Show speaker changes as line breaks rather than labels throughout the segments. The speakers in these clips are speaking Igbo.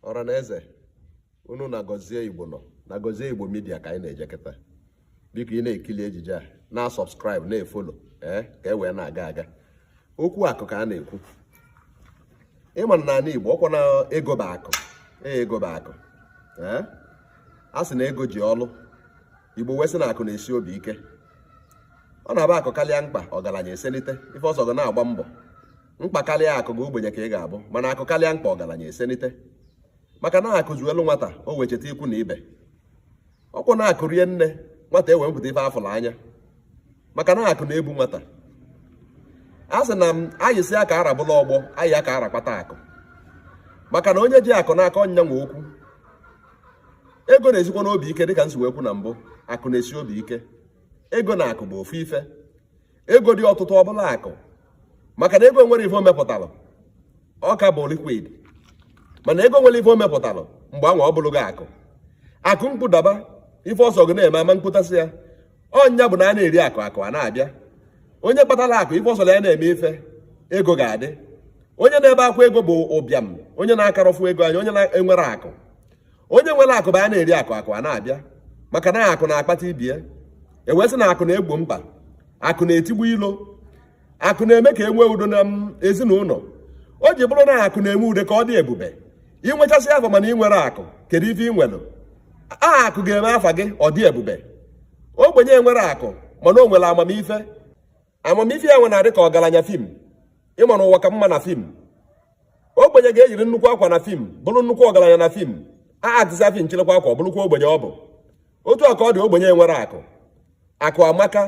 ọra na eze unu na gọzie igbo nọ na gọzie igbo midia ka anyị na-eje kịta biko ị na-ekili ejije a na-asọbskraịbụ na-efolo ee ka e wee na-aga aga okwu akụ ka a na-ekwu ị ma na n'ala igbo ọ kwa na ego bụ akụ ee ego bụ akụ ee a sị na ego ji ọlụ igbo wee sị na akụ na-esi obi ike ọ na-abụ akụ karịa mkpa ọgaranya esenite ife ọ sọ gị na-agba mbọ mkpa karịa akụ gị ogbenye ka ị ga-abụ mana akụ karịa mkpa ọgaranya esenite maka na akụ zuolu nwata o wee cheta ikwu na ibe ọ kwa na akụ rie nne nwata e wee mepụta ife a fụrụ anya maka na akụ na-ebu nwata a sị na m anyị si aka arabụla ọgbọ anyị aka arakpata akụ maka na onye ji akụ n'aka ọ nya nwe okwu ego na-esikwa n'obi ike dịka m si wee kwu na mbụ akụ na-esi obi ike ego na akụ bụ ofu ife ego dị ọtụtụ ọ bụlụ akụ maka na ego enwerọ ife o mepụtara ọ ka bụ liquid mana ego nwere ife o mepụtara mgbe anwa ọ bụrụ gị akụ akụ mkpụdaba ife ọ sọ gị na-eme ama mkpụtasị ya ọ nya bụ na a na-eri akụ akụ a na-abịa onye kpatara akụ ife ọ sọ ya na-eme ife ego ga-adị onye na-ebe akwa ego bụ ụbịam onye na-akarọ fụ ego anya onye na-enwerọ akụ onye nwere akụ bụ a na-eri akụ akụ a na-abịa maka na akụ na-akpata ibie e wee sị na akụ na-egbo mkpa akụ na-etigbu ilo akụ na-eme ka e nwee udo na ezinụlọ o ji bụrụ na akụ na-eme ude ka ọ dị ebube i nwechasịa afa mana i nwerọ akụ kedu ife i nwere ọ akụ ga-eme afa gị ọ dị ebube ogbenye enwerọ akụ mana o nwere amamife amamife ya nwe na-adị ka ọgaranya fim ị ma na ụwa ka mma na fim ogbenye ga-eyiri nnukwu akwa na fim bụrụ nnukwu ọgaranya na fim a aktịsịa fim chịrịkwa akwa ọ bụrụkwa ogbenye ọ bụ otu a ka ọ dị ogbenye enwerọ akụ akụ amaka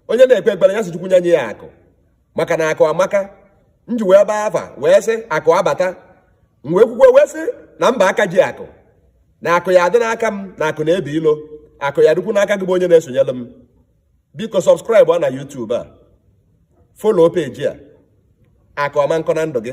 onye na-ekpe ekpere ya sị chukwu nye nye ya akụ maka na akụ amaka m ji wee baa afa wee sị akụ abata m wee kwukwa wee sị na mba aka ji akụ na akụ ya-adị n'aka m na akụ na-ebi ilo akụ ya-adịkwu n'aka gị bụ onye na-esonyere m biko sọbskraịbụa na YouTube a folo peji a akụ aman kọ na ndụ gị